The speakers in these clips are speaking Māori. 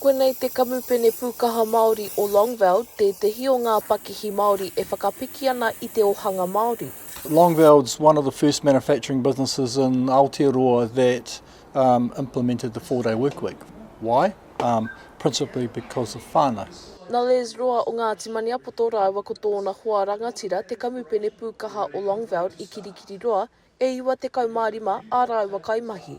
Koinei te Kamupene Pūkaha Māori o Longveld, tētehi o ngā pakihi Māori e whakapiki ana i te ohanga Māori. Longveld's one of the first manufacturing businesses in Aotearoa that um, implemented the four-day work week. Why? Um, principally because of whānau. Nā Les Roa o Ngāti Maniapoto rāua ko tōna hoa rangatira te Kamupene Pūkaha o Longveld i Kirikiriroa, e 95 ā rāua kaimahi.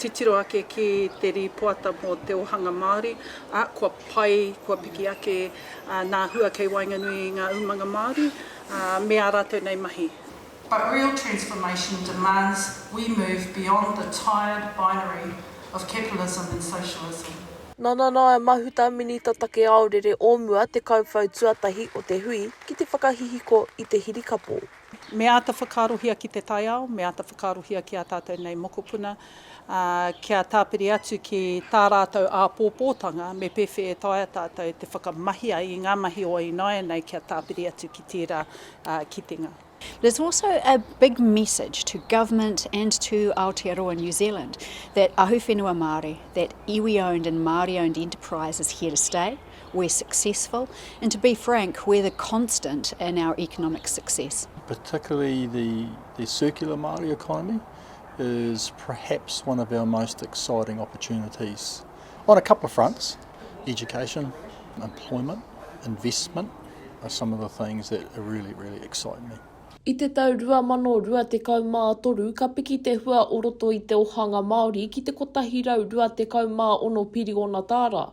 Titiro ake ki te rīpoata mō te ōhanga Māori, ā, kua pai, kua piki ake nā hua kei waenganui i ngā umanga Māori me ā rātou nei mahi. But real transformation demands we move beyond the tired binary of capitalism and socialism. Nā Nanaia Mahuta, Minita Take Aorere o mua te kauwhau tuatahi o te hui ki te whakahihiko i te hirikapo. Me āta whakaarohia ki te taiao, me āta whakaarohia ki ā tātou nei mokopuna, ā, kia tāpiri atu ki tā rātou āpōpōtanga, me pēwhē e taea tātou te whakamahia i ngā mahi o ināianei kia tāpiri atu ki tērā kitenga. There's also a big message to government and to Aotearoa New Zealand that ahuwhenua Māori, that iwi owned and Māori owned enterprise is here to stay. we're successful, and to be frank, we're the constant in our economic success. particularly the, the circular Māori economy, is perhaps one of our most exciting opportunities on a couple of fronts. Education, employment, investment are some of the things that really, really excite me. I te tau 2023 ka piki te hua o roto i te ohanga Māori ki te 126 piriona tāra,